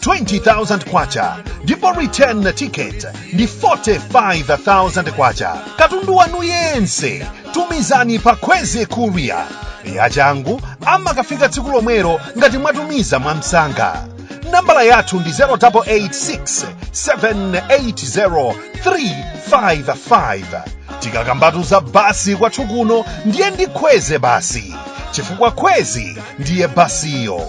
20,000 kwacha ndipo return ticket ndi 45,000 kwacha katundu wanu yense tumizani pa Kwezi courier yachangu amakafika tsiku lomwelo ngati mwatumiza mwamsanga nambala yathu ndi 0886 780 355 tikakambatu za basi kwathu kuno ndiye ndi Kwezi basi chifukwa kwezi ndiye basiyo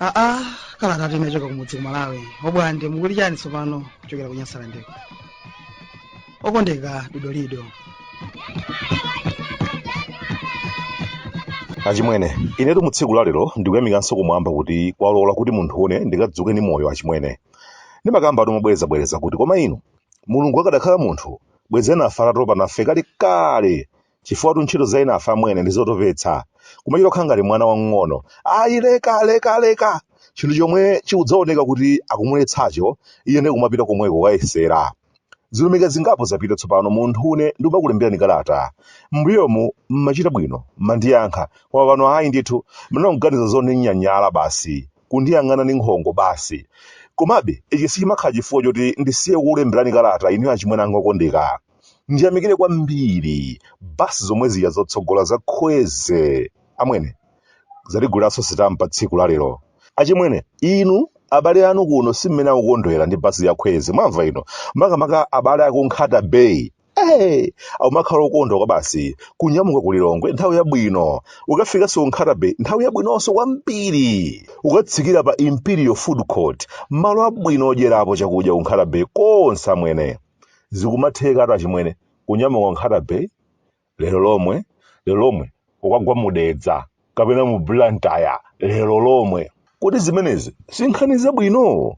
aa kalata titachoka kumudzi ku malawi obwande mukuti chiyani tsopano kuchokera ku nyasalandeko okondeka dodolido achimwene inetu mu tsiku lalero ndikuyamikanso kumwamba kuti kwalola kuti munthu une ndikadzuke ndi moyo achimwene ndimakambatu mobwerezabwereza kuti koma inu mulungu akadakhala munthu bwezeni atatopa nafe kale kale chifukwatu ntchito za enafe amwene ndi zotopetsa kumachita kukhala ngati mwana wamng'ono ayi leka leka leka chinthu chomwe chikudzaoneka kuti akumuletsacho iye ndiye kumapita komweko kukayesera zilumika zingapo zapita tsopano munthu une ndikumakulemberani kalata mbuyomu mmachita bwino mmandiyankha koma pano ayi ndithu munanguganiza zondinyanyala basi kundiyang'ana ndi nkhongo basi komabe ichi sichimakhala chifukwa choti ndisiye kukulemberani kalata inu achimwene anga okondeka ndiyamikire kwambiri basi zomwe zija zotsogola za Kwezi amwene zatiguliranso sitampa tsiku la lero achimwene inu abale anu kuno si mmene akukondwera ndi basi ya Kwezi mwamva ino makamaka abale aku Nkhata Bay Hey, akumakhala okondwa kwabasi kunyamuka ku lilongwe nthawi yabwino kukafikanso ku Nkhata bay nthawi yabwinonso kwambiri kukatsikira pa imperial food court malo abwino odyerapo chakudya ku Nkhata bay konse amwene zikumathekatu achimwene kunyamuka nkhata bay lero lomwe lero lomwe kukagwa mu Dedza kapena mu blantyre lero lomwe kodi zimenezi sinkhani zabwino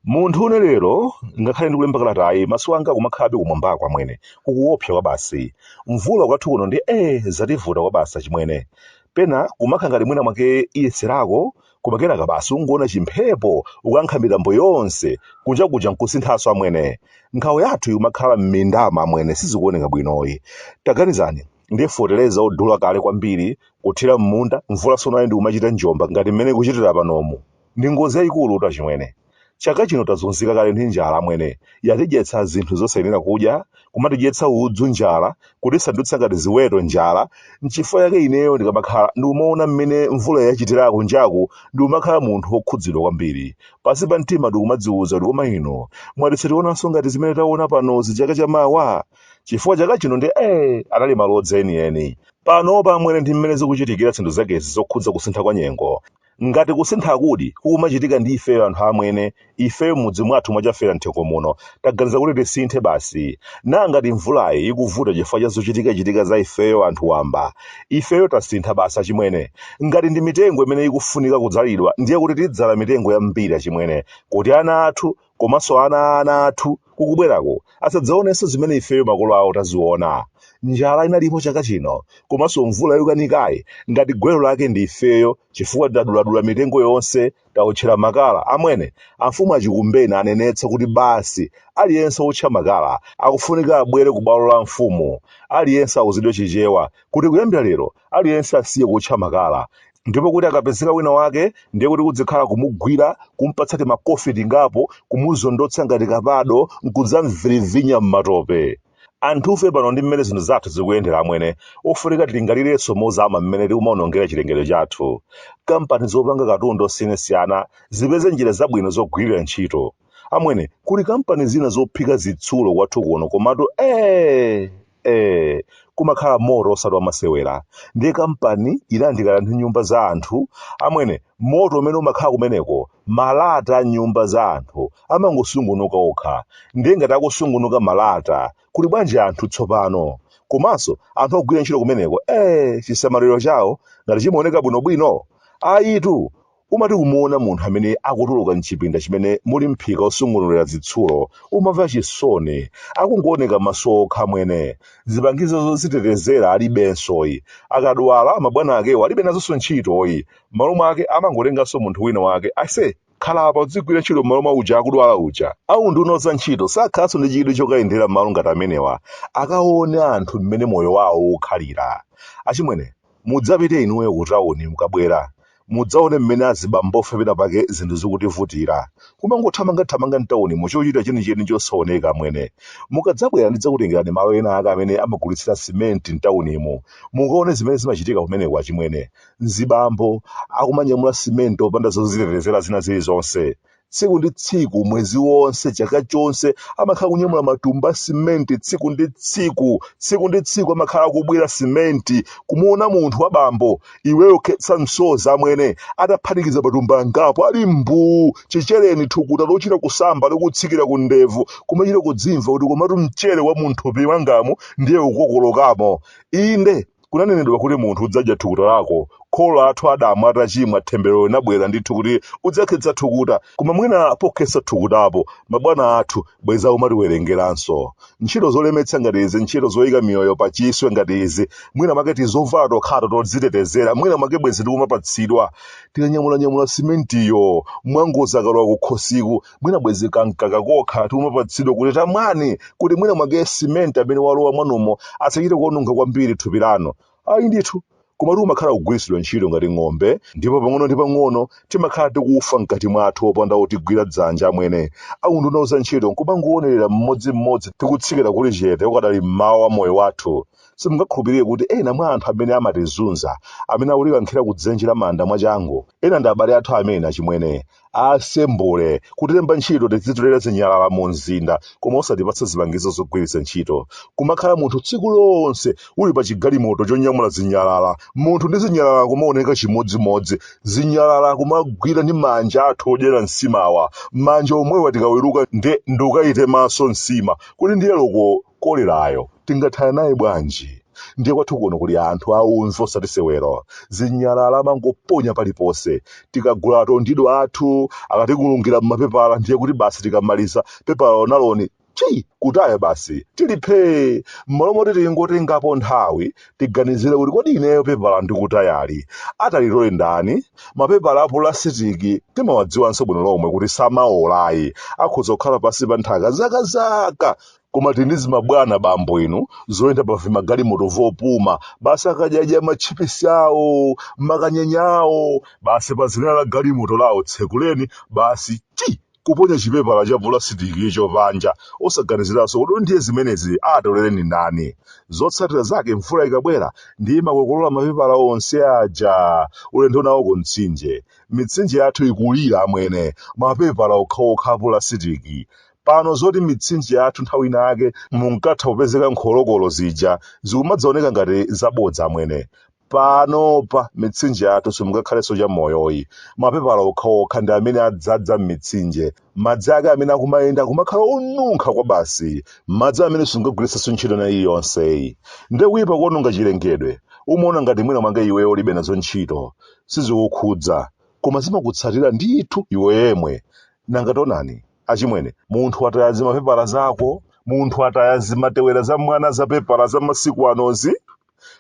munthu une lero ngakhale ndikulemba kalatayi maso anga akumakhalabe kumwambaku amwene kukuopsa kwabasi mvula kwathu kuno ndi e yativuta kwabasi achimwene pena kumakhala ngati mwina mwake iyesererako koma kenaka basi kungoona chimphepo kukankha mitambo yonse kunja kuja nkusinthanso amwene nkhawa yathu ikumakhala m'mindamu amwene sizikuoneka bwinoyi taganizani ndiye foteleza odula kale kwambiri kuthira m'munda mvula tsono ayo ndikumachita njomba ngati mmene ikuchitira panomu ndi ngozi yayikulutu achimwene Chaka chino tazunzika kale ndi njala amwene. Yatidyetsa zinthu zosayenera kudya, kumatidyetsa udzu njala, kutisandutsa ngati ziweto njala. N'chifukwa chake ineyo ndikamakhala ndikumaona mmene mvula yachitira kunjaku ndikumakhala munthu wokhudzidwa kwambiri. Pansi pa mtima ndikumadziuza kuti koma ino, mwati sitionanso ngati zimene taona panozi chaka chamawa? Chifukwa chaka chinodi ee, anali malodza enieni. Panopa amwene ndi mmene zikuchitikira zinthu zakezi zokhudza kusintha kwa nyengo. Ngati kusinthakudi kukumachitika ndi ifeyo anthu amwene, ifeyo m'mudzi mwathu mwa Chafera Mthengo muno, taganiza kuti tisinthe basi. Naa ngati mvulayi ikuvuta chifukwa cha zochitikachitika za ifeyo anthu wamba? Ifeyo tasintha basi achimwene. Ngati ndi mitengo imene ikufunika kudzalidwa ndiye kuti tidzala mitengo yambiri achimwene kuti ana athu, komanso ana a ana athu kukubwerako asadzaonenso zimene ifeyo makolo awo taziona. Njala inalipo chaka chino komanso mvula yokanikayi ngati gwero lake ndi ifeyo chifukwa taduladula mitengo yonse, taotchera makala. Amwene, amfumu achikumbeni anenetsa kuti basi aliyense wootcha makala akufunika abwere kubwalo la mfumu. Aliyense auzidwe Chichewa kuti kuyambira lero aliyense asiye kuotcha makala ndipo kuti akapezeka wina wake ndiye kuti kudzikhala kumugwira kumpatsa timakofi tingapo kumuzondotsa ngati kapado nkudzamvirivinya m'matope anthufe pano ndi mmene zinthu zathu zikuyendera amwene ofunika tilingalirenso mozama mmene tikumaonongera chilengedwe chathu kampani zopanga katundu osiyanasiyana zipeze njira zabwino zogwirira ntchito amwene kuli kampani zina zophika zitsulo kwathu kuno komatu ee ee kumakhala moto osati wamasewera ndiye kampani inayandikana ndi nyumba za anthu amwene moto umene umakhala kumeneko malata a nyumba za anthu amangosungunuka okha ndiye ngati akusungunuka malata kuli bwanji anthu tsopano komanso anthu ogwira ntchito kumeneko ee chisamaliro chawo ngati chimaoneka bwinobwino ayitu Umati kumuona munthu amene akutuluka m'chipinda chimene muli mphika wosungunulira zitsulo, umamva chisoni. Akungooneka maso okha amwene. Zipangizo zodzitetezera alibensoyi. Akadwala, mabwana akewo alibe nazonso ntchitoyi. M'malo mwake amangotenganso munthu wina wake. Aise, khala apa udzigwira ntchito m'malo mwa uja akudwala uja. A Unduna wa Zantchito sakhalanso ndi chidwi chokayendera malo ngati amenewa, akaone anthu mmene moyo wawo ukukhalira. Achimwene, mudzapite inuyo kutauni mukabwera. mudzaone mmene azibambofe pena pake zinthu zikutivutira kumangothamangathamanga mtaunimo chochita chenicheni chosaoneka amwene mukadzabwera ndidzakutengerani malo ena ake amene amagulitsira simenti mtaunimo mukaone zimene zimachitika kumeneko achimwene mzibambo akumanyamula simenti opanda zozitetezera zina zilizonse tsiku ndi tsiku mwezi wonse chaka chonse amakhala kunyamula matumba a simenti tsiku ndi tsiku tsiku ndi tsiku amakhala akubwira simenti kumuona munthu wa bambo iweyo khetsa msozi amwene ataphatikiza matumba angapo ali mbuu chichereni thukuta lochita kusamba likutsikira ku ndevu kumachita kudzimva kuti komatu mchere wa munthupi wangamu ndiye ukukokolokamo inde Kunanenedwa kuti munthu udzadya thukuta lako. Kholo lathu Adamu atachimwa, themberero linabwera ndithu kuti udzakhetsa thukuta. Koma mwina pokhetsa thukutapo, mabwana athu bwenzi akumatiwerengeranso. Ntchito zolemetsa ngati izi, ntchito zoika miyoyo pachiswe ngati izi, mwina mwake tizovala tokhato todzitetezera, mwina mwake bwenzi tikumapatsidwa. Tikanyamulanyamula simentiyo, mwangozi akalowa kukhosiku, mwina bwezi kamkaka kokha tikumapatsidwa kuti tamwani kuti mwina mwake simenti amene walowa mwanumo asachite kuononga kwambiri thupi lanu ayi ndithu koma kumakhala kugwiritsidwa ntchito ngati ng'ombe ndipo pang'ono ndi pang'ono timakhala tikufa mkati mwathu opanda otigwira dzanja amwene aunduna wa zantchito nkumangowonerera mmodzimmodzi tikutsikira kuli chete ukadali mmawa wa moyo wathu simungakhulupirire kuti ena mwa anthu amene amatizunza amene akutikankhira kudzenje la manda mwachangu ena ndi abale athu amene achimwene asembule, kutilemba ntchito tizitolera zinyalala mu mzinda koma osatipatsa zipangizo zogwiritsa ntchito. Kumakhala munthu tsiku lonse uli pa chigalimoto chonyamula zinyalala, munthu ndi zinyalala kumaoneka chimodzimodzi, zinyalala kumagwira ndi manja athu odyera nsimawa, manja omwewa tikaweruka nde nkukayitemanso nsima kuti ndiye loko kolerayo tingathana naye bwanji ndiye kwathu kuno kuli anthu aumve osati sewero zinyalala amangoponya paliponse tikagula atondido athu akatikulungira m'mapepala ndiye kuti basi tikamaliza pepala lonaloni chii kutaya basi tili phee m'malo moti tingotengapo nthawi tiganizire kuti kodi ineyo pepala ndikutayali atalitole ndani mapepala a pulasitiki timawadziwanso bwino lomwe kuti samaolayi akhoza kukhala pansi pa nthaka zakazaka koma tili ndi zimabwana bambo inu zoyenda pa vimagalimoto vopuma basi akadyadya matchipisi awo makanyenya awo basi pa zenera la galimoto lawo tsekuleni basi chi kuponya chipepala cha pulasitiki icho panja osaganiziranso kuti ndiye zimenezi atolereni ndani zotsatira zake mvula ikabwera ndiye imakokolola mapepala onse aja ulendo nawo ku mtsinje mitsinje yathu ikulira amwene mapepala okhaokha a pulasitiki pano zoti mitsinje yathu nthawi ina yake munkatha kupezeka nkholokolo zija zikumadzaoneka ngati zabodza amwene panopa mitsinje yathu simungakhalenso chamoyoyi mapepala okhaokha ndi amene adzadza m'mitsinje madzi ake amene akumayenda kumakhala onunkha kwabasi madzi amene sungagwiritsenso ntchito na iliyonseyi nde kuyipa kuononga chilengedwe umaona ngati mwina mwake iweyo ulibe nazo ntchito sizikukhudza koma zimakutsatira ndithu iwe yemwe nanga taonani achimwene munthu ataya zimapepala zako munthu ataya zimatewera za mwana za pepala za masiku anozi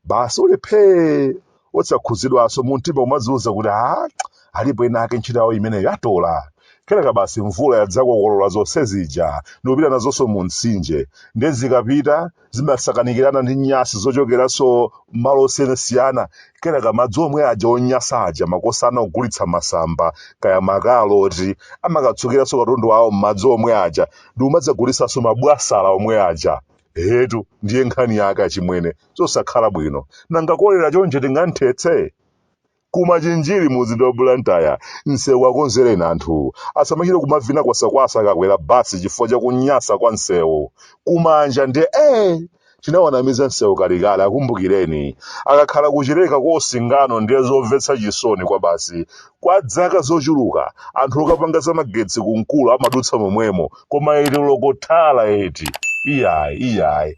basi uli phee osakhuzidwanso mumtima umadziuza kuti a alipo ena ake ntchito yawo imeneyo atola kenaka basi mvula yadzakokolola zonse zija ndikupita nazonso mu mtsinje ndiye zikapita zimasakanikirana ndi nyasi zochokeranso malo osiyanasiyana kenaka madzi omwe aja onyasa aja makosana ogulitsa masamba kaya makaloti amakatsukiranso katundu wawo m'madzi omwe aja ndi kumadzagulitsanso mabwasala omwe aja etu ndiye nkhani yake achimwene zosakhala bwino nanga kolera choncho tinganthetse Ku Machinjiri mu mzinda wa Blantyre, msewu akonzereni anthu. Asamachite kumavina kwasakwasa akakwera bus chifukwa cha kunyasa kwa msewu. Ku Manja ndiye ee! Chinawanamiza msewu kalekale, akumbukireni. Akakhala ku Chileka kwa Singano ndiye zomvetsa chisoni kwabasi. Kwa dzaka zochuluka, anthu okapanga za magetsi ku Nkula amadutsa momwemo, koma eti loko thala eti! Iyayi, iyayi.